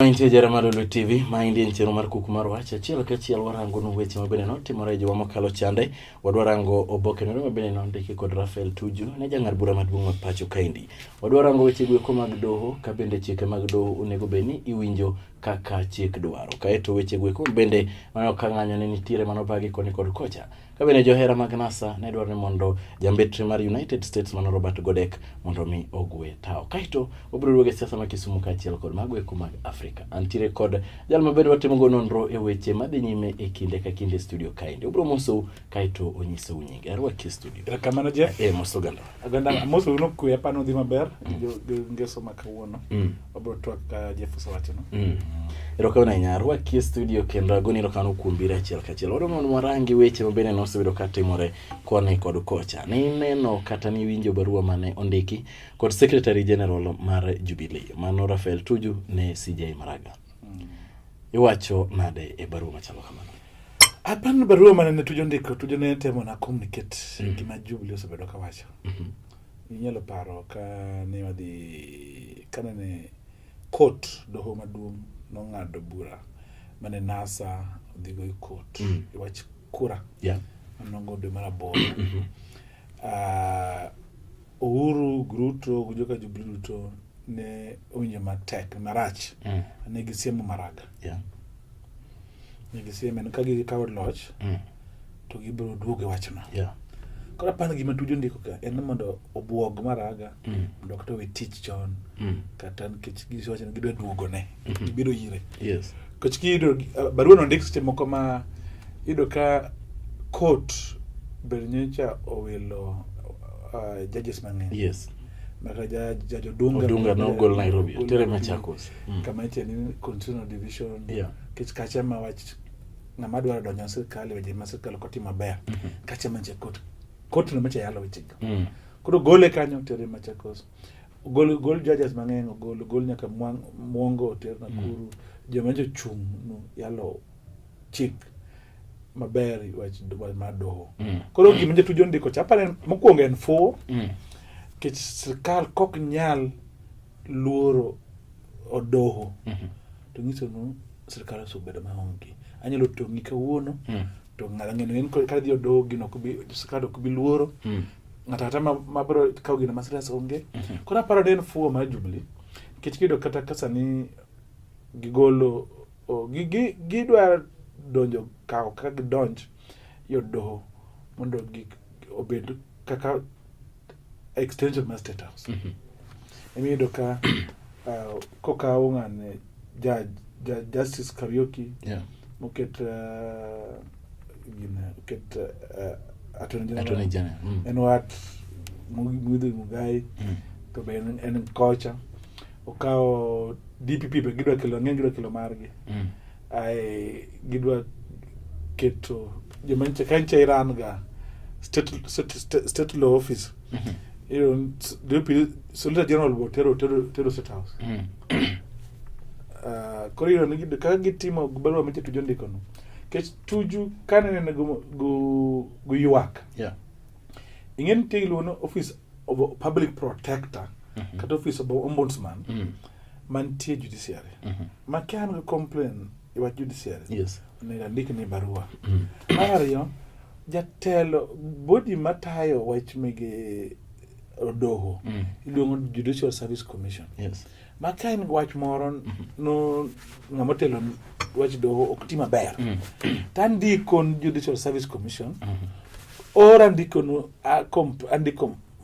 Mantie jara mar Lulu TV, maendi en chenro mar kuku mar wach. Achiel ka achiel warango nu weche mabende notimore e juma mokalo chande. Wadwa rango oboke nore mabende nondiki kod Rafael Tuju ne jang'ad bura maduong' ma pacho kaendi. Wadwa rango weche gweko mag doho ka bende chike mag doho onego bed ni iwinjo kaka chik dwaro. Kaeto weche gweko bende manyo ka ng'anyo ne nitiere manobagi koni kod kocha. Ka bende johera mag NASA ne dwaro ni mondo jambetre mar United States mano Robert Godek mondo mi ogwe tawo. Kaeto obiro duogo e siasa ma Kisumu kaachiel kod mago eko mag Afrika. Antiere kod jal ma bende watimogo nonro e weche madhi nyime e kinde ka kinde e studio kaendi. Obiro mosou kaeto onyisou nyinge. Arwaki e studio. Erokamano Jeff. Eh, mos oganda. oganda mose uno kwe pano dhi maber ngeso ma kawuono mm. wabro twak ka jeff osewachono mm. erokamano ahinya arwakie studio kendo agoni erokamano kuom biro achiel kachiel wado mondo warangi weche mabende nosebedo ka timore koni kod kocha nineno kata niwinjo barua mane ondiki kod secretary general mar jubilee mano rafael tuju ne cj maraga mm. iwacho nade e barua machalo kamano Aparo ni barua mane ne Tuju ondiko, Tuju ne temo na communicate mm. gima Jubilee osebedo ka wacho. Mm -hmm. Inyalo paro ka ne wadhi ka ne court doho maduong' nong'ado bura mane NASA odhi go e court mm. e wach kura. Yeah. Manongo dwe mar aboro. Mm -hmm. uh, Uhuru Gruto gi joka Jubilee duto ne owinjo matek marach mm. ne gisiemo Maraga yeah. ne gisieme ka gikawo loch mm. to gibiro duogo e wachno yeah. koro apani gima tuju ndiko ka en mondo obwog Maraga mm. mondo kata owe tich chon mm. kata nikech giwacho ni gidwa duogone mm -hmm. gibiro ire yes. Nikech kiyudo uh, barua no ndik seche moko ma iyudo ka court ber nyocha owilo uh, judges mang'eny. Yes. Maka judge Odunga. Odunga no gol Nairobi. Tere Machakos. Mm. Kama iche ni constitutional division. Yeah. Kech kacha ma wach ng'ama dwaro donjo sirkal weje ma sirkal ok otimo maber. Mm -hmm. Kacha manche court. Court no macha yalo weche go. Mm. Koro gole kanyo tere Machakos. ogol ogol judges mang'eny ogol ogol nyaka mwongo oter Nakuru mm. joma nyo chung' no yalo chik maber wach ma doho mm. koro gima jatujo ondiko cha apare mokwongo en fuwo mm. kech sirikal kok nyal luoro odoho mm -hmm. to nyiso nu sirikal osebedo maonge anyalo tong'i kawuono mm. to ng'ala ng'eyo in ka dhi odoo gino kubi sirkal ok bi luoro mm. ng'ato kata ma, ma bro kawo gino ma serious onge mm -hmm. koro aparo ni en fuo mar Jubilee nikech kiyudo kata ka sani gigolo oh, gi, gi, gidwa donjo kawo kaka gidonj yo doho mondo gik obed kaka extension mar state house mm -hmm. emiyudo ka uh, kokawo ng'ane judge, judge justice Kariuki yeah. moket uh, gine oket uh, uh, attorney general, attorney general. Mm. en wat Muithi Mugai mm. to be en, en kocha okawo DPP be gidwa kelo ng'eny gidwa kelo margi mm. Ae gidwa keto joma nitie ka nitie Iran ga state, state, state, state law office iyudo ni s- DPP Solicitor General bo tero tero tero State House Ah, koro iyudo ni gid- kaka gitimo barua miche Tuju ndikono kech Tuju ka nenene gu- gu- guywak Yeah. ing'e nitie iluongo ni office of a public protector kata office of a ombudsman Mm. mantie judiciary mm -hmm. ma ka an gi complain e wach judiciary yes. onego andik ni barua mm. mar ariyo jatelo bodi matayo wach mege odoho mm. iluongo judicial service commission yes. ma ka en wach moro mm -hmm. no ng'ama otelo wach doho ok ti maber mm. to andiko judicial service commission mm -hmm. or andiko andiko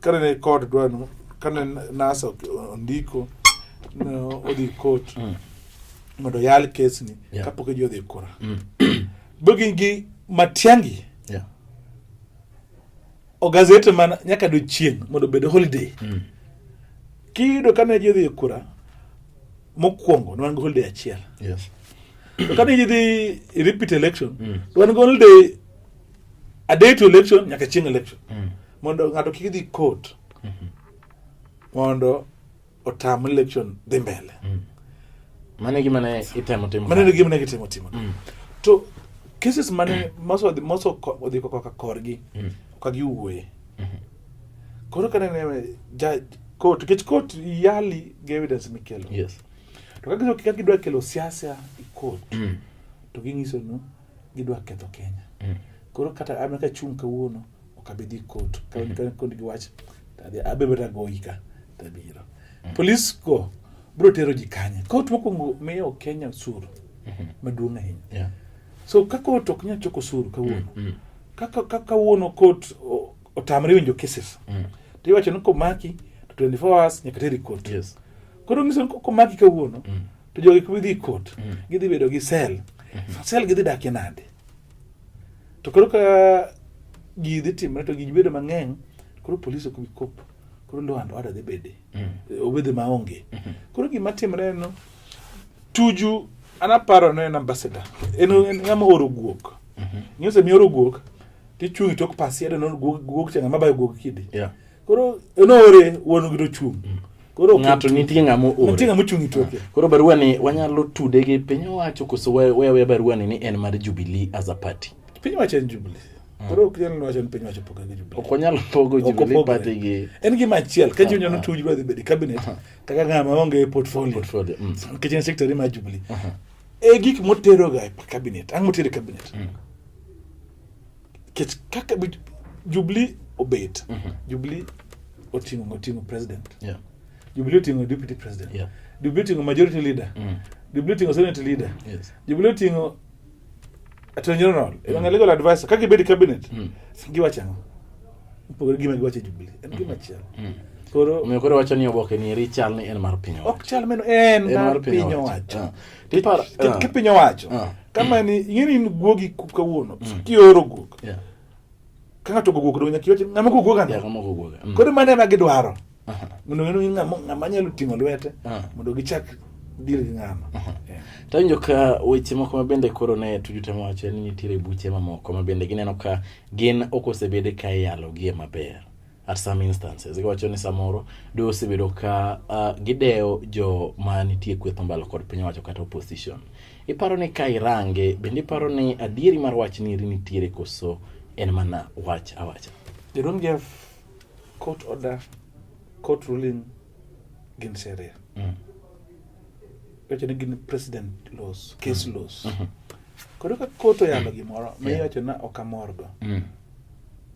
kane ne kod dwano kane nasa ondiko odhi kot mm. mondo oyal kesni yeah. kapok iji odhi kura mm. bogin gi matiangi yeah. ogazete mana nyaka dochieng' mondo obed holiday mm. kiyudo kane ji odhi kura mokwongo nwan gi holiday achiel yes. to kane ji dhi repeat election mm. nwan gi holiday a day to election nyaka chieng election mm. mondo ng'ato kik dhi court mm -hmm. mondo otam election dhi mbele mm. mane gima ne itemo timo mane gima ne itemo timo mm. to cases mane mm. moso moso odhi ko kaka korgi mm. ka giwuoye mm -hmm. koro kane ne ja court kech court yali gi evidence mikelo yes to kaka kidwa kelo siasa i court mm. to ginyiso no gidwa ketho Kenya. Mm. Koro kata an ka chung' kawuono ok abi dhi kot ka mm -hmm. kod giwach tadhi abe bata goyi ka tabiro. Mm. Polis go bro tero ji kanye. Kot mokwongo miyo Kenya suru mm -hmm. maduong' ahinya. Yeah. So ka kot ok nyal choko suru kawuono. Mm -hmm. Kaka ka kawuono kot otamre winjo cases. Mm. To iwacho ni komaki to 24 hours nyaka teri kot. Yes. Koro ng'iso ni komaki kawuono mm. to jogi kuma idhi kot mm. gidhi bedo gi sel mm-hmm. sel gidhi dakie nade to koro ka ji dhi timre to ji bedo mang'eny koro polis ok bi kop koro ndo ando ada dhi bede mm. obede maonge mm-hmm. koro gima timre no tuju anaparo no en ambassador en ng'ama oro guok mm-hmm. ng'e osemi oro guok tichung' tok pasia to no guok changa mabayo guok kidi yeah. koro enoore wuon gi tochung mm. koro ng'ato nitie ng'ama oore nitie ng'ama ochung' itoke ah. koro barua ni wanyalo tude gi piny owacho koso wewe barua ni ni en mar Jubilee as a party piny owacho en Jubilee mm. koro ok nyal wacho ni piny wacho pogo gi Jubilee ok wanyal pogo Jubilee party gi en gima achiel ka ah, jonyuol ah. tuju dhi bedo cabinet kaka ng'ama onge portfolio portfolio mm. kitchen secretary mar Jubilee e gik moteroga e cabinet ang' motero e cabinet mm. kech kaka Jubilee obet mm -hmm. Jubilee oting'o oting'o president yeah. Jubilee oting'o deputy president yeah. Jubilee oting'o majority leader mm. Jubilee oting'o senate leader yes. Jubilee oting'o attorney general mm. ewang'a legal advisor kaka ibed cabinet mm. giwacho ang'o mopogore gima giwacho Jubilee en gima mm. chielo mm. koro omiyo koro wacho ni oboke ni eri chal ni en mar piny owacho ok chal meno en mar piny owacho ah. Tiparo, Ki- ah. kipiny owacho Ah. kama ni ing'eni in guogi ku- kawuono kioro guok Yeah. ka ng'ato ogoguok donge nyaka iwachi ng'ama ogoguok Yeah, ano kama uko uoga. Mm. koro mano ema gidwaro Aha. mondo ng'e ni ng'ama ng'ama nyalo ting'o lwete Ah. mondo gichak deal gi ng'ama Eh. Tawinjo ka weche moko ma bende koro ne tujute mowacho ni nitiere buche mamoko ma bende gineno ka gin ok osebede ka iyalogie maber. at some instances iwacho ni samoro do osebedo ka uh, gidewo jo ma nitie kweth mbalo kod piny owacho kata opposition iparo ni ka irange bende iparo ni adieri mar wach ni nitiere koso en mana wach awacha they don't give court order court ruling gin sheria mm. iwacho ni gin president laws case mm. laws mm -hmm. koro ka court oyalo gimoro ma iwacho na ok amorgo mm.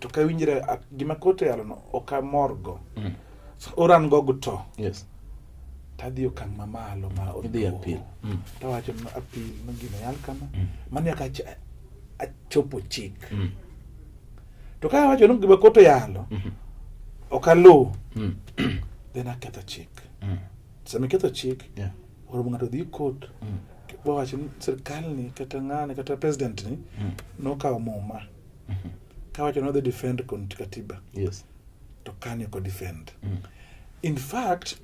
to ka winjre gima koto yalono ok amorgo mm. oran go guto yes. tadhi okang' mamalo ma odhi apil mm. tawacho no apil no gino yal kama mm. mano nyaka achopo chik mm. to ka awacho ni gima koto yalo mm -hmm. ok aluw mm. then aketho chik mm. sama iketho chik yeah. oromo ng'ato dhi kot mm. wawacho ni sirkal ni kata ng'ani kata president ni mm. nokawo muma mm. Mhm. Ka wacho nodhi defend Conti Katiba. Yes. To Kani oko defend. Mm. In fact,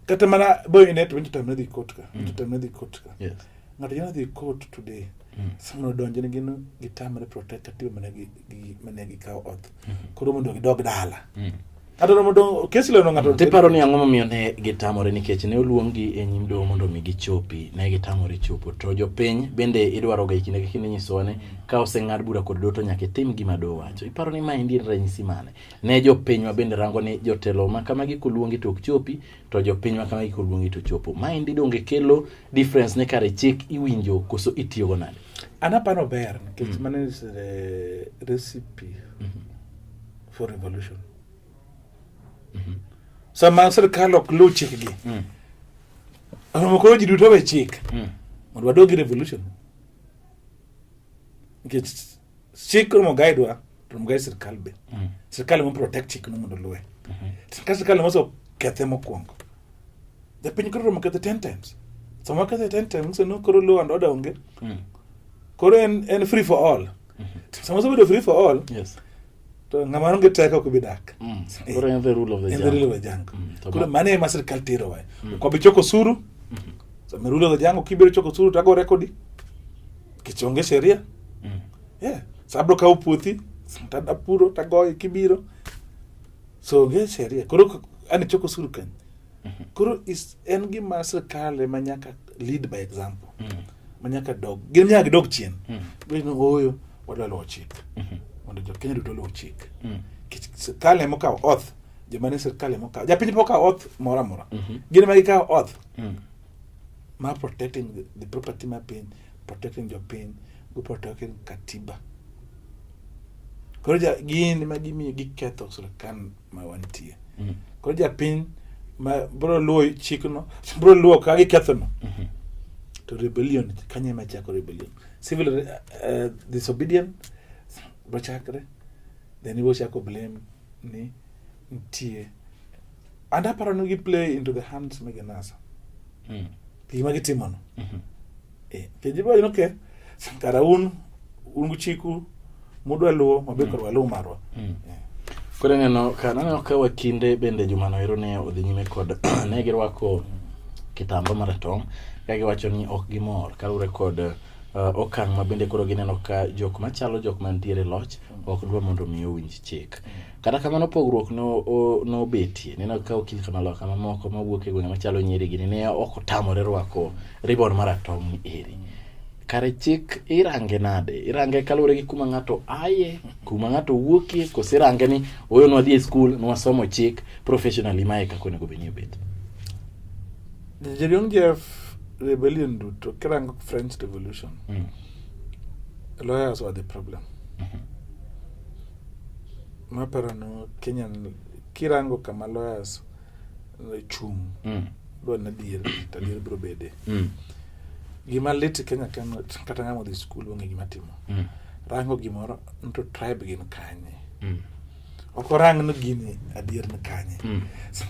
kata mana boy net winjo tamne dhi court ka. Winjo mm. tamne dhi court ka. Yes. Ng'ato nyalo dhi court today. Mm. Sama odonjo ne gino gitamre protect Katiba mane gi mane gikawo oth. Mm-hmm. Koro mondo gidog dala. Mm. kata romo dong kes leno ng'ato tiparo ni ang'o momiyo ne gitamore nikech ne oluonggi e nyim doho mondo mi gichopi ne gitamore chopo to jopiny bende idwaro ga kinde ka kinde nyisowa ni ka oseng'ad bura kod doho to nyaka itim gima doho wacho iparo ni ma endi en ranyisi mane ne jopinywa bende rango ni jotelo ma kamagi koluongi to ok chopi to jopinywa kamagi koluongi to chopo ma endi donge kelo difference ne kare chik iwinjo koso itiyogo nade anapano ber nikech mm. mano is the recipe mm -hmm. for revolution mm-hmm. sama sirkal ok luw chikgi mm. oromo koro ji duto we chik mm. mondo wadogi revolution nikech chik romo gaidwa to romo gaid sirkal be mm. sirkal emo protect chik no mondo luwe mm-hmm. ka sirkal emo so kethe mokwongo japiny koro romo kethe ten times sama kethe ten times so no koro luw and order onge mm. koro en, en free for all mm -hmm. sama osebedo free for all yes. to ngama onge teko ok bi dak mm. eh. koro en the rule of the jungle, rule of the jungle. Mm, koro mane ema sirkal tero wa mm. kwa bi choko suru mm -hmm. so me rule of the jungle kibiro choko suru to ago rekodi kichonge sheria mm. yeah sabro ka uputhi tada puro tagoye kibiro so ge sheria koro ani choko suru kan mm -hmm. koro is en gima sirkal ema nyaka lead by example mm. manyaka dog gin nyaka dog chien mm. gino oyo wadwa luwo chik mm -hmm. mondo jo Kenya duto luwo chik mm. sirkal emo kawo oath joma ne sirkal emo kawo japiny pok kawo oath moro amora mm -hmm. gin ma gikawo oath mm. ma protecting the, the property ma piny protecting jopiny gi protecting katiba koro gin ma gimiyo giketho sirkal ma wantie mm. koro japiny ma bro luwo chikno bro luwo ka gikethono mm -hmm. to rebellion kanye ema chako rebellion civil uh, uh, disobedience bochakre then ibo chako blame ni nitie and aparo ni gi play into the hands megenasa mm. gima gitimono mm -hmm. eh, penje bwa no ke kara un un gu chiku mudwa luo mabe korwa luo marwa mm. eh. kore neno ka naneno ka wakinde bende juma noero ne odhi nyime kod ne girwako kitamba maratong ka giwacho ni ok gimor kaluwore kod uh, okang' ma bende koro gineno ka jok machalo jok mantiere loch ok dwa mondo mi owinj chik Kata kamano pogruok nobetie. No Nineno ka okil kamaloka mamoko mawuok e gwenge machalo nyiri gini ne ok otamore rwako ribon maratong' eri. Kare chik irange nade? Irange kaluwore gi kuma ng'ato aye, kuma ng'ato wuokie, kose irange ni oyo nwadhi e skul, nwasomo chik professionally mae kaka onego bed ni obet. Jerion Jeff rebellion duto kirango French Revolution, mm. lawyers were the problem. Mm -hmm. maparo no kenyan kirango kama lawyers chung' mm. dwa ni adier to adier biro bede mm. gima lit e kenya ken kata ng'ama odhi skul onge gima timo mm. rango gimoro nto tribe gin kanye mm. ok orang ni gini adier ni kanye mm.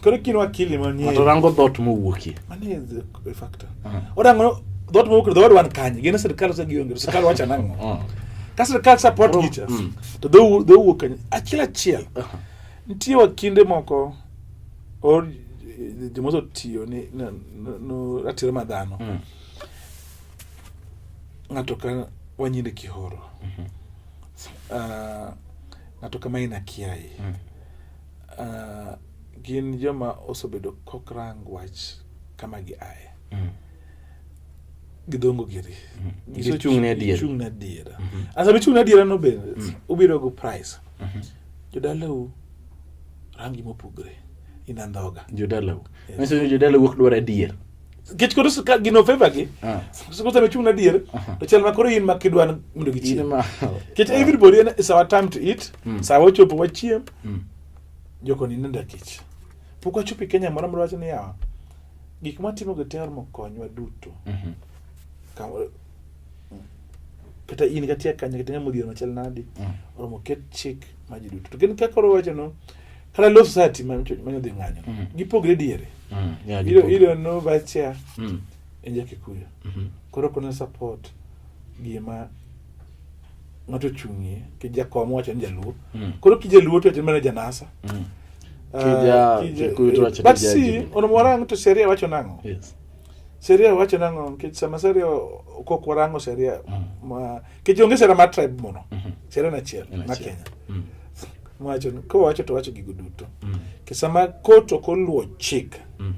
koro kin wakili manie to rango dhot mowuokie manie a factor. Uh-huh. What I'm gonna dot mo kdo wan kany gin sirkal sa gionge sirkal wacha nango uh-huh. ka sirkal support oh, teachers mm. to do do wo kany achiel achiel uh-huh. nitie wa kinde moko or eh, jomoso tiyo ni no, no ratiro ma dhano mm. ng'ato ka wanyinde kihoro mm-hmm. uh, ng'ato kama ina kiai mm. uh, gin joma osebedo kokrang wach kama gi aye mm. gidongo giri mm. gichung' ne adiera gichung' ne adiera mm-hmm. asa bichung' ne adiera no be mm. ubiro go price mm-hmm. jodalau rangi mopogre ina ndhoga jodalau yes. jodalau ok dwar adier kech koro ka gino favor gi ah. siko sa bichung' ne adier uh-huh. to chal ma koro in ma kidwa mondo gichiem kech everybody is our time to eat mm. sawa ochopo wachiem mm. Joko ni nenda kech. Pok wachopo Kenya moro moro wacho niya gik matimo gi ter mokonywa duto. Mm -hmm. Ka, kata in kati akanya kata ng'ama odhier machal nadi mm. oromo ket chik ma ji duto to gin kaka koro wacho no kata law society ma ma dhi ng'anyo mm. gipogre diere mm. yeah, ilo ilo no vice chair mm. enja kikuyo mm -hmm. koro kuna support gima ng'ato ochung'ie kij jakom wacho ni jaluo mm. koro kij jaluo to mana janasa mm. uh, ah, eh, but see onomo warang to seria wacho nang'o yes. seria wacho nang'o nikech sama seria kok warango seria mm. ma nikech onge sera mar tribe mono mm -hmm. seria nachiel ma kenya mm. wacho kowacho to wacho gigo duto mm. kisama kot ok oluwo chik mm.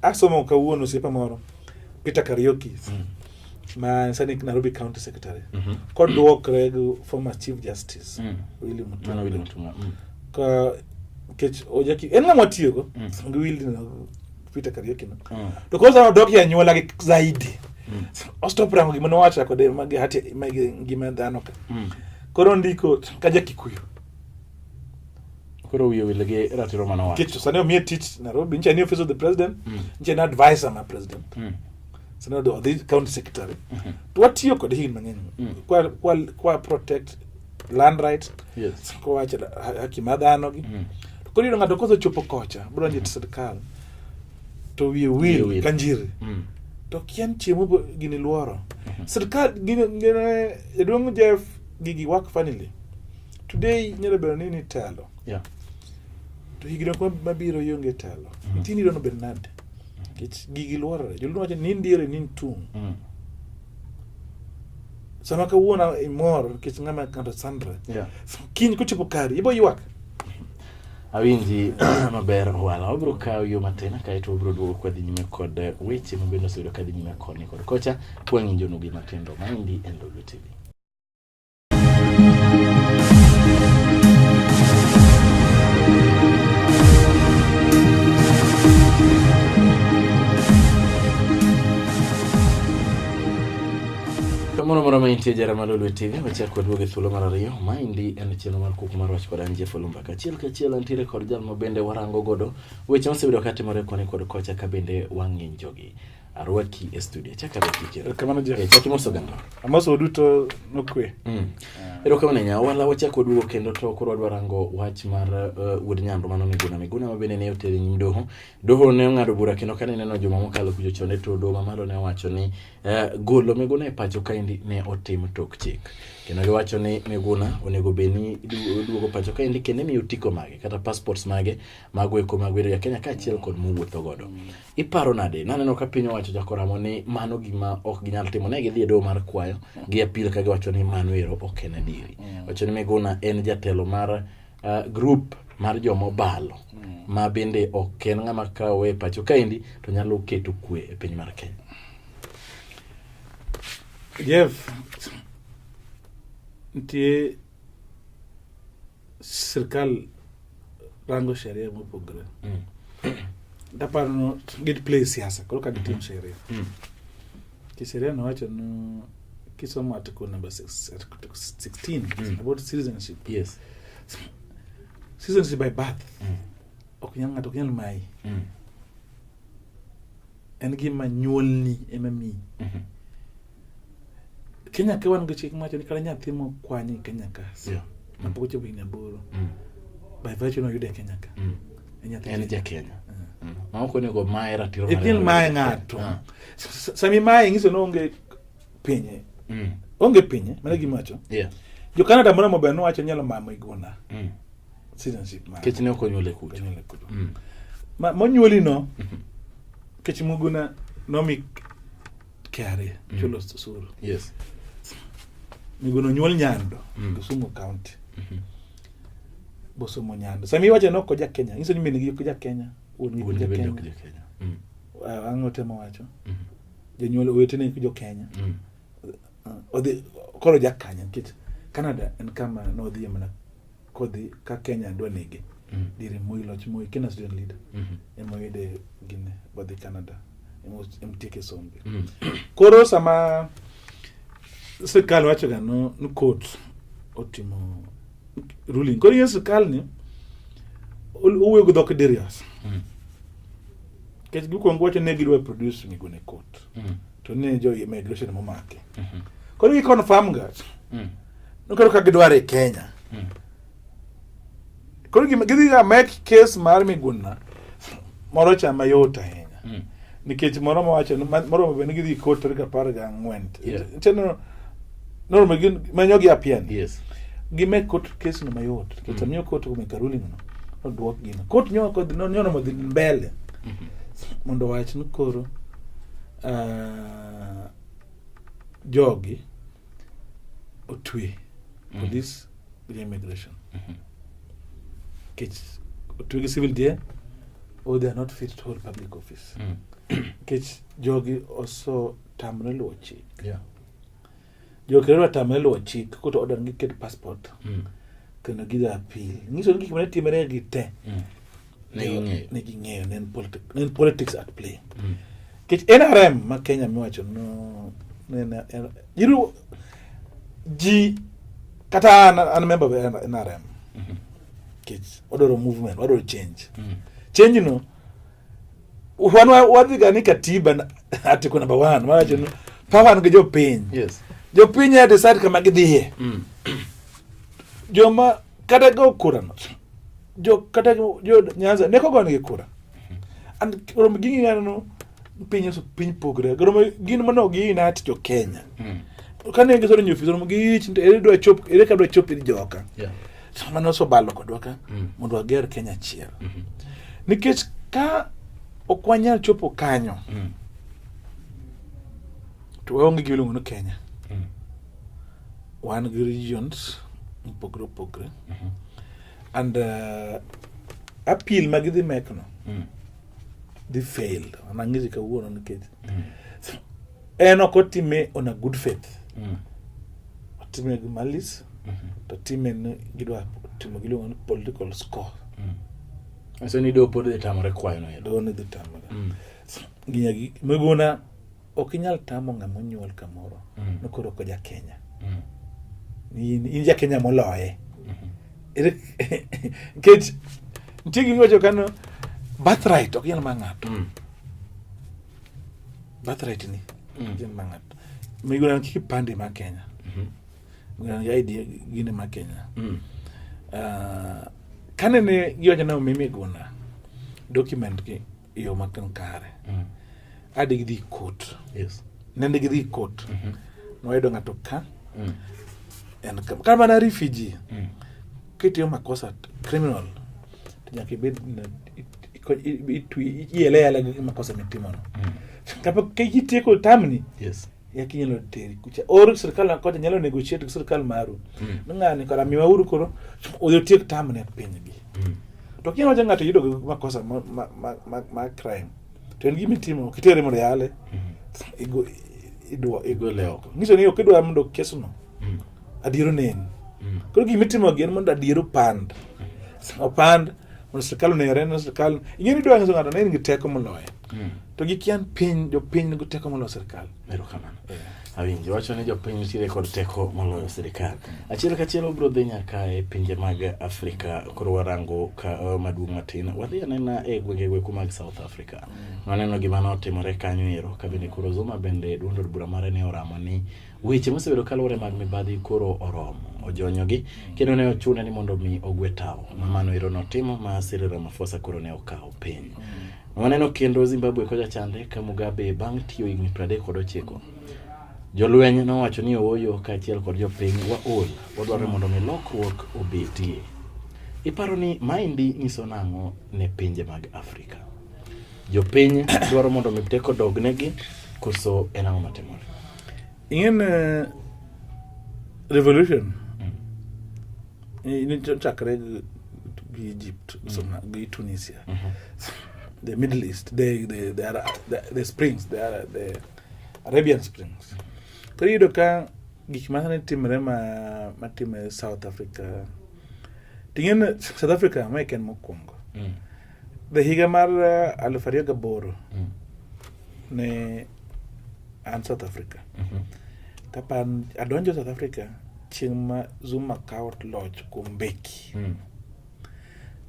Asomo kawuono osiepa moro Peter Kariuki mm. ma sani Nairobi County Secretary mm -hmm. kodwokre gi former Chief Justice mm. Willy Mutunga Willy Mutunga mm. ka kech ojaki en ng'ama tiyogo mm. ngi Willy na Peter Kariuki no mm. to kosa no doki anyuola gi zaidi mm. ostop rango gima nowacha kode magi hati magi ngima dhano ka mm. koro ndiko kaja Kikuyu koro wiye wil gi ratiro mane owacho nikech sani omiye tich Nairobi nyicha ni office of the president mm. nyicha ni advisor ma president mm. sani odhi county secretary mm-hmm. to watiyo kode higni mang'eny mm. kwa, kwa, kwa protect land right yes. kowacho haki ma dhano gi mm. to koro yudo ng'ato kosechopo kocha brodonjo e sirikal to wiye wil ka njiri mm. to kian chiemo gini luoro mm-hmm. sirikal gini, gini, jaduong' Jeff gigi work funnily today nyalo bedo ni nitelo yeah. to higni ok mabiro ionge telo mm. nitie ni irono bed nade nikech gigi luorore joluo wacho ni ndiere ni ntung mm. sama kawuono imor nikech ng'ama ng'ato sandre yeah. kiny kochopo kari ibo ywak awinji maber wala wabiro kawo yo matin kaeto wabiro duogo kwadhi nyime kod eh, weche mabende oseyudo kadhi nyime koni kod kocha kwang'injonugi matindo maendi e ndolo tv Kamoro moro ma intie jara ma Lolwe TV, wachak kod wuoge thuolo mar ariyo. Maendi en chenro mar kuku mar wach kod an Jeff Olumba. Kachiel kachiel antiere kod jal ma bende warango godo weche mosebedo ka timore koni kod kocha ka bende wang'injogi. arwaki e studio chaka arwaki kero erokamano jeff eh, chaki moso gando amoso duto nokwe mm. Eh. erokamano nya wala wachako duogo kendo to koro wadwa rango wach mar uh, wuod nyando mano miguna miguna ma bende ne otere nyim doho doho ne ong'ado bura kendo kane neno joma mokalo kujo chone to doho mamalo ne owacho ni uh, golo miguna e pacho kaendi ne otim tok chik kendo giwacho ni miguna onego bed ni duogo pacho kaendi kendo imiyo otiko mage kata passports mage mago eko mag bedo ja kenya kaachiel kod mowuotho godo Iparo nade? Naneno ka piny owacho jakoramo ni mano gima ok ginyal timo. Ne gidhi e doho mar kwayo gi apil ka giwacho ni mano ero ok en adieri. Mm. Wacho ni Miguna en jatelo mar uh, group mar joma obalo mm. ma bende ok en ng'ama kawo e pacho kaendi to nyalo keto kwe e piny mar Kenya. Jeff, nitie sirkal rango sheria mopogore mm. daparo no gid play siasa koro ka gitim mm. sheria mm. ki sheria nowacho no kisomo article number six, article 16 mm. about citizenship yes citizenship by birth mm. ok nyal ng'ato ok nyal mayi mm. En gima nyuolni ema miyi. Mhm. Kenya ka wan gi chik mawacho ni kata nyathi mokwany e Kenya ka yeah. mapok ochopo higni aboro mm. by virtue noyude e Kenya ka mm. en ja Kenya uh. mm. ma ok onego maye ratiro e piny maye ng'ato uh. sami maye ng'iso ni onge pinye mm. onge pinye mana gima wacho yeah. jo Canada moro maber nowacho nyalo mamo igona mm. citizenship mare kech ne ok onyuole kucho onyuole kucho mm. ma monyuoli no mhm. kech muguna nomi KRA mm. chulo osuru yes miguna onyuol nyando mm. Kisumu county mm -hmm. bosomo nyando sami wache no koja Kenya nyiso ni mine gi koja Kenya wuon gi koja Kenya mm. ang'o temo wacho mm -hmm. jonyuol owetene jo Kenya mm. odhi koro jakanya nikech Canada en kama nodhiye mana kodhi ka Kenya dwa nege mm. dire Moi loch Moi Kenya student leader mm -hmm. ema oyude gine bodhi Canada emtieke sombe mm. koro sama sirkal wacho ga no ni court otimo ruling koro ye sirkal ni owuoyo gi dhok dirias mm. kech gikwongo wacho ne gidwa produce migone court mm. to ne jo immigration momake mm -hmm. koro gi confirm ga mm. Nokelo ka gidwaro e Kenya. Hmm. Koro gima gidhi ga make case mar Miguna moro cha mayot ahinya. Hmm. Nikech moro mawacho moro ma bende gidhi kot tarik apar ga ang'wen. Cheno noro ma gin manyo gi apian. Yes. Gimek kot case no mayot. Nikech hmm. amiyo kot kumeka ruling no. Odwok gino. Kot nyo kod no nyono modhi mbele. Hmm. Mondo wach ni koro uh, jogi otwe mm-hmm. police gi immigration mm-hmm. kech otwe gi civil die or oh, they are not fit to hold public office mm. kech jogi oso tamre luwo chik jogi kendo tamre luwo chik koto order gi ket passport mm. kendo gidhi appeal nyiso ni gik mane timre gi te mm. neging'eyo ne en politics at play mm. kech nrm ma kenya miwacho no jiru ji kata an an member of nrm mm-hmm. kech wadwaro movement wadwaro change mm. change no wan wadhiga ni katiba article number one mawacho no power nigi jopiny yes. jopiny ya decide kama gidhiye mm. joma kata go kurano jo kata jo Nyanza ne kogo nigi kura and rom gi ng'ano no piny so piny pogre rom gin mano gi inat jo Kenya mm. kane gi soro nyofi rom gi ich ere dwa chop ere ka dwa chop joka yeah. sama no so balo kodwa ka mm. mondo ager Kenya chiel mm -hmm. nikech ka ok wanyal chopo kanyo mm. to waonge gi iluongo ni Kenya wan gi regions mopogore opogore mm -hmm. and uh, appeal ma gidhi mekno mm. dhi fail anang'isi kawuono nikech mm. en ok otime on a good faith mm. otime gi malis mm -hmm. to time ni gidwa timo giluongo ni political score mm. Ase ni do pod dhi tamore kwayo no. Do ni dhi tamore. Mm. Ginya gi megona Ok inyal tamo ng'ama onyuol kamoro mm. ni koro ok ja Kenya. Mm. In ja Kenya moloye. Nikech nitie gima iwacho kano birthright ok inyal ma ng'ato. Mm. Birthright ni ok inyal ma ng'ato. Miguna kipande ma Kenya. Mm-hmm. Miguna ID gine ma Kenya. Ah, kane ne giwacho ni omimi guna document gi e yo matin kare mm. ade gidhi kot yes. nende gidhi kot mm -hmm. nwayudo ng'ato ka mm. en kar mana refugee mm. kitiyo makosa criminal to nyaka ibed ieleyala gi makosa mitimono mm. kapok kitieko tamni yes. yaki nyalo teri kucha or sirkal na kocha nyalo negotiate gi sirkal maru mm. ng'ani kora miwa uru koro oyo tiek tam ne piny gi mm. to kinyalo wacho ng'ato yudo ma kosa ma ma ma, ma crime to en gimi timo kitere mondo yale mm. igo idwa igo leo ngiso ni okidwa mondo kesu no mm. adiero ne en mm. koro gimi timo gi en mondo adiero pand mm. opand mondo sirkal onere na sirkal ing'e ni dwa ngiso ng'ato ne en gi teko moloyo Hmm. To gi kian piny jo piny nigi teko moloyo sirkal. Ero kamano. Eh. Awinji wacho ni jo piny nitiere kod teko moloyo sirkal. Hmm. Achiel ka achiel obro dhi nyaka e pinje mag Afrika koro warango ka eh, maduong' matin. Wadhi anena e gwenge gwe kuma South Africa. Hmm. Waneno gima ne otimore kanyo ero ka bende koro Zuma bende duond od bura mare ne oramo ni weche mosebedo kaluwore mag mibadhi koro oromo ojonyogi kendo ne ochune ni mondo mi ogwe tawo mamano ero notimo ma Cyril Ramaphosa koro ne okawo piny. Mm. Waneno kendo Zimbabwe kocha chande ka Mugabe bang' tiyo higni 39. Jolweny nowacho ni ooyo kaachiel kod jopiny waol, wadwaro mondo mi lokruok obetie. Iparo ni maendi nyiso nang'o ne pinje mag Afrika? Jopiny dwaro mondo mi teko dognegi koso en ang'o matimore? ingen eh, revolution chakre gi egypt mm. gi tunisia mm-hmm. the middle east the, the, the, the, the springs the, the arabian springs koro iyudo ka gik masani timre ma matime south africa ting'e south africa ma ken mokwongo mm. The higa mar uh, aluf ariyo gaboro mm. ne an South Africa mm -hmm. tapa adonjo South Africa chieng' ma Zuma kawo loch kuom Mbeki mm.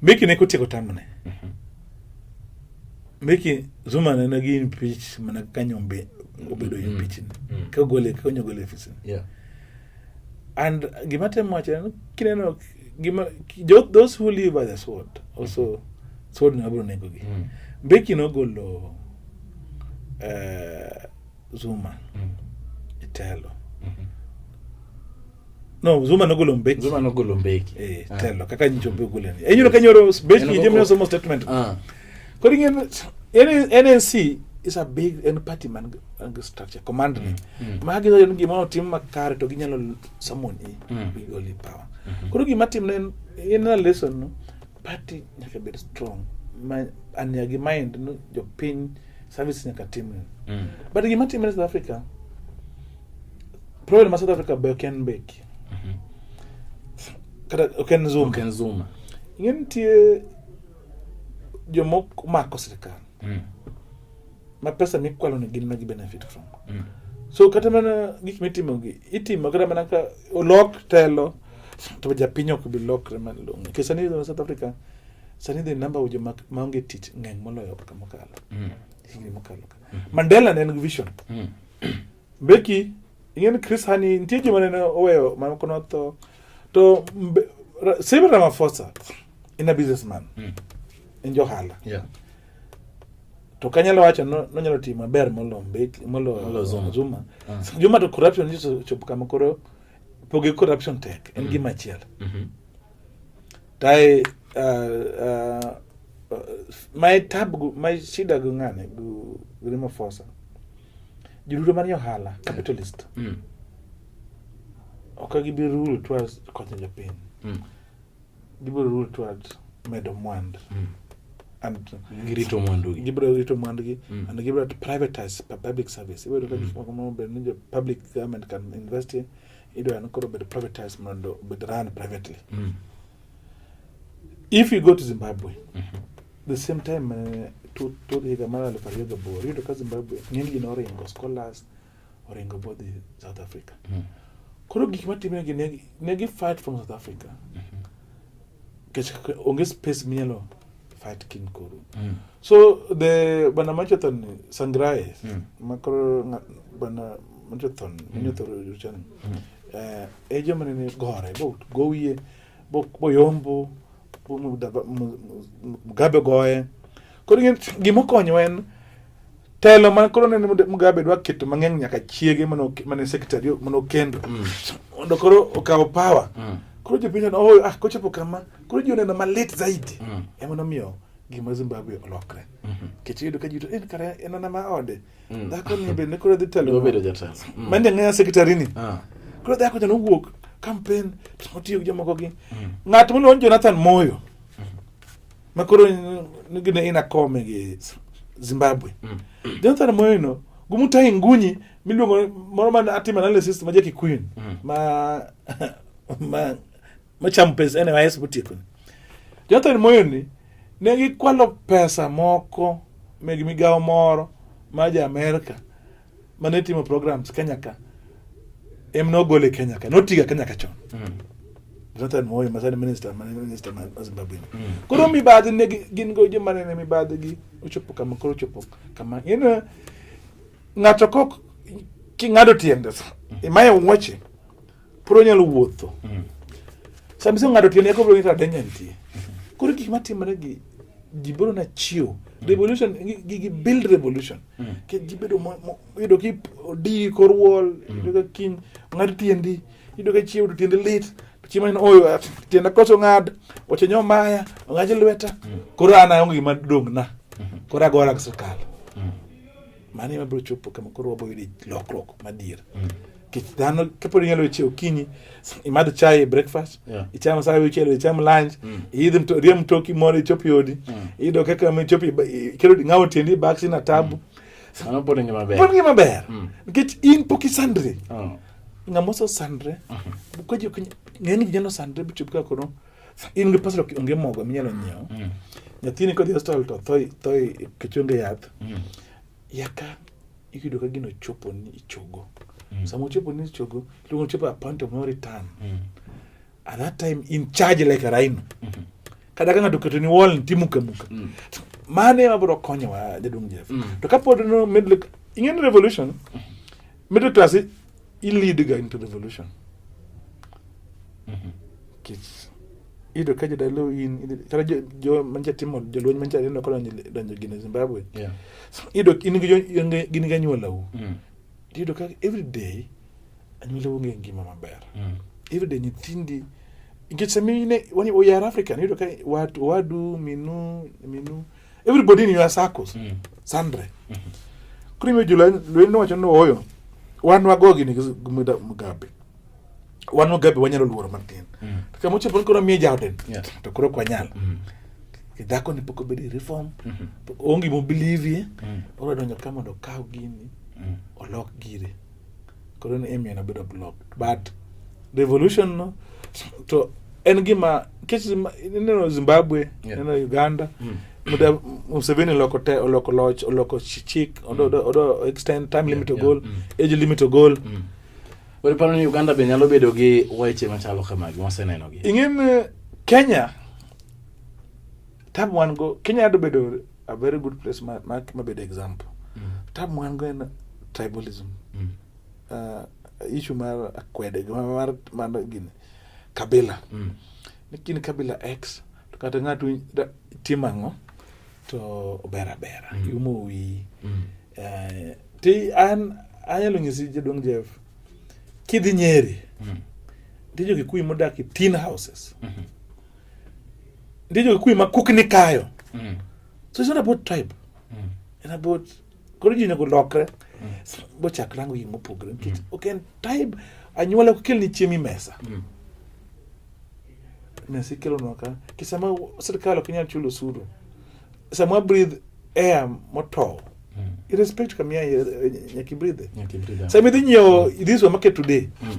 Mbeki ne kotieko tamne mm -hmm. Mbeki Zuma ne nagi impeach mana kaka nyombe obedo mm. impeach mm. mm. kogole konyo gole ofisini yeah. and gima temo wacho kineno those who live by the sword also sword no abro nego gi mm. mbeki nogolo uh, zuma mm. itelo mm -hmm. no zuma nogolo mbeki zuma nogolo mbeki eh ah. telo kaka nyicho be gole ni enyulo kanyoro mbeki jemno somo statement ah kodi ngene NNC is a big and party man and structure commandment mm. mm. magi yo ngi mo tim makare to ginyalo summon e mm. with only power Mhm. Koro gima timne en in a lesson no party nyaka bed strong. Ma an ya gi mind no jopiny service nyaka timne. Mm. But gima timne South Africa problem ma South Africa be ok en mbeki. Mhm. Kata ok en Zuma. Ken Zuma. Ing'e nitie jomok mako sirkal. mm. ma pesa mikwalo ni gin ma gi benefit from mm. so kata mana gik mitimo gi itimo kata mana ka olok telo to japiny ok bi lokre malong'o nikech sani e south africa sani the number of joma maonge tich ng'eny moloyo kaka mokalo mm. higni mokalo ka mm. mandela ne en gi vision mm. Becky, ing'e ni Chris Hani nitie joma nene oweyo mano kono tho. To mbe- Ra- Cyril Ramaphosa in a businessman. Mm. En johala. Yeah. To kanyalo wacho no- nonyalo timo maber molo Mbeki molo Molo Zuma. Zuma. Ah. Zuma to corruption ni chopo kama koro pogi corruption tek en gima achiel. Mhm. Tae uh, uh, my tab my shida gungane gu Ramaphosa. Joduto manie ohala, capitalist. Mm. Ok gibi rule towards konyo jopiny. Mm. Gibiro rule towards medo mwandu. Mm. And girito mwandu gi. Gibiro rito mwandu gi mm. and gibiro to privatize public service. Ibiro ka mm. gik moko ma ber ni public government can invest in. Idwa ni koro bed privatized mondo bed run privately. Mm. If you go to Zimbabwe, mm -hmm. the same time uh, to to the Gamala Leparioga Bo, you know, Zimbabwe, ng'eny gin oringo scholars, oringo both the South Africa. Mm -hmm. Koro gik matimre gi ne, ne gi fight from South Africa. Mm -hmm. Kech onge space minyalo fight kin koro. Mm -hmm. So the bana machothon Sangrae, mm -hmm. makoro bana machothon, mm -hmm. machothon, mm -hmm. eh, ejo manene gore bo gowie bo bo yombo bo mu- da- mu- mu- mugabe goye koro ing'e ni gima okonyo en telo man koro nene Mude- mugabe dwa keto mang'eny nyaka chiege mane ok- mane secretary mane okendo mondo koro okaw power Mm. koro jopiny oneno, oh ah kochopo kama koro ji oneno malit zaidi Mm. ema nomiyo gima zimbabwe olokre nikech iyudo ka ji to en kare en ana ma ode mm. dhako ni bende koro dhi telo obedo jatelo mm. mani jang'eya sekretari ni ah. koro dhako jana owuok kampen otiyo gi jomoko gi mm. ng'at miluongo ni Jonathan Moyo mm. ma koro nigi ne ina kome gi Zimbabwe mm. Jonathan Moyo no gumutai ngunyi miluongo moro man atima analysis ma jakikuyu mm. ma ma machamo pesa ene wayes botieko ni Jonathan Moyo ni ne gikwalo pesa moko meg migawo moro ma ja Amerika mane timo programs Kenya ka em nogole Kenya ka notiga Kenya ka chon mm. Jonathan Moyo ma sani minister ma minister ma Zimbabwe mm. koro mibadhi ne gin go joma ne mibadhi gi ochopo kama koro ochopo kama in ng'ato kok king'ado tiende imaye wuoche Pod onyalo wuotho. Mm. Sama iso ng'ato tiende kobro ng'eto adenya nitie. Mm-hmm. Koro gik matimore gi ji biro na chiwo. Mm. Revolution, gi build revolution. Mm. Ke ji bedo yudo ki di kor wall, mm. yudo ka kiny, ng'ato tiendi, yudo ka chiwo to tiendi lit. Chiemo ni oyo at tienda koso ng'ad, oche nyo maya, ng'aji lweta. Mm. Koro an aonge gima dong' na. Mm-hmm. Koro agora gi sirkal. Mm. Mane mabiro chopo kama koro wabiro yudo lokruok madier. Mm. kech dhano kapod inyalo weche okinyi imadh chai e breakfast yeah. icham saa wichelo icham lunch mm. iidh mto, rie mtoki moro ichopi odi mm. iyudo kaka michopi kelo ng'awo tiendi baksi na tabu mm. pod ngima ber pod ngima ber mm. nikech in pok isandri oh. ng'ama osesandre mm -hmm. kwaji ng'eny ginyalo sandre bichopo kaka kono in gi pesa onge mogo minyalo nyiewo mm. nyathini kodhi hospital to tho tho e kichunge yath mm. yaka iyudo ka gino chopo ni ichogo mm. sama ochopo ni ichogo iluongo ni chopo a point of no return mm. at that time in charge like a rhino mm -hmm. kata ka ng'ato oketo ni wall nitie muka muka mm. mano ema biro konyowa jaduong' Jeff mm. to kapod no middle ing'e ni revolution mm. middle class Ilead ga into revolution. Mm -hmm. Kids. Ido kaje dalo in tara jo, jo manja timo jo lweny manja rino kono donjo gine Zimbabwe. Yeah. So, ido in gi jo gini ga nyuola u. Mm. Ido ka every day anyuola u ngi ngima maber. Mm. Every day nyithindi nikech samine wani oyar African ido ka watu wadu minu minu everybody in your circles mm. sandre mm -hmm. koro imiyo jolweny lwenyno wacho ni ooyo wan wagogi ni mugabe wan mugabe wanyalo luoro matin mm. to kama ochopo ni koro miye jaoden yeah. to koro ok wanyal mm. dhako ni pok obedi reform mm -hmm. onge mobelieve mm. oro donjo ka mondo okaw gini mm. olok gire koro ni Amy nobedo blocked but revolution no to en gima kech ineno Zimbabwe yeah. ineno Uganda mm. Muda Museveni oloko te oloko loch oloko chik odo mm. odo, odo extend time yeah, limit to yeah, goal mm. age limit to goal mm. Wale pano ni Uganda be nyalo bedo gi weche machalo kamagi waseneno gi. Ing'en eh, Kenya tabu wan go Kenya ado bedo a very good place ma, ma, ma bed example mm. tab mwan go en tribalism mm. uh, issue mar akwede mar, mar, mar gini kabila mm. lakini kabila x to kata ng'ato tim ang'o to ober abera mm. iumo wiyi mm. uh, ti an anyalo nyisi jaduong' jeff kidhi nyeri mm. nitie jo kikuyu modak e tin houses mm -hmm. ndicho kikuyu makuknikayo mm. so it's not about tribe mm. it's about koro ji onego lokre mm. bochak rango gik mopogore nikech mm. ok en tribe anyuola ok kelni chiemo imesa mm. mesa ikelonwa ka kisama sirikal ok inyal chulo osuru samwa breathe air motow mm. irrespect kamia eh, eh, nyaki breathe nyaki breathe sami dhi nyiewo mm. this market today mm.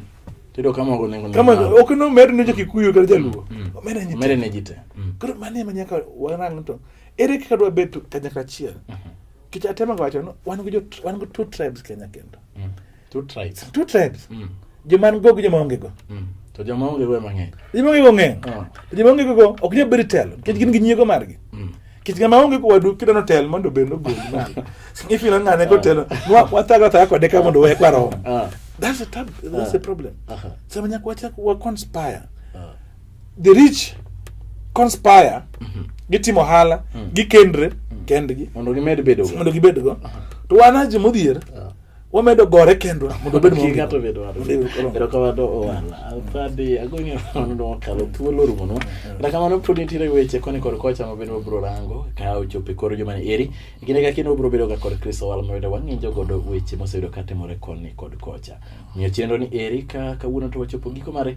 Tido kama uko nengo kama ok no medo ne jokikuyu kata jaluo mm. mm. omera nyite omera ne jite mm. koro mane ma nyaka warang to ere kaka dwa bet kanyakla achiel mm -hmm. kich atema wacho no wan gi wan gi two tribes Kenya kendo mm. two tribes two tribes mm. joma an go gi joma onge go mm. to joma onge go mang'eny joma onge go ng'eny ah. to joma onge go ok nyal bedo telo nikech gin gi nyiego margi mm. kit ng'ama onge kowadu kidwa notel mondo obed nogol ifilo ng'ane kotelo ah. wathaga thaga kode ka mondo wek warom ah. that's a tab that's a problem uh-huh. sama nyaka wachak wa conspire the rich conspire mm-hmm. gitimo ohala mm. gikendre mm. kendgi mondo gimed bedo mondo gibed go uh-huh. to wan aje modhier wamedo gore kendwa mondo obed maonge ng'ato bedo wadwa erokamano owana padi agoni onono kalo thuolo orumonwa kata kamano pod nitiere weche koni kod kocha ma bende wabiro rango ka ochopo e kor juma ni eri e kinde ka kinde wabiro bedoga kod kristo wal ma bende wang'injo godo weche moseyudo katimore koni kod kocha omiyo chenro ni eri ka kawuono to wachopo giko mare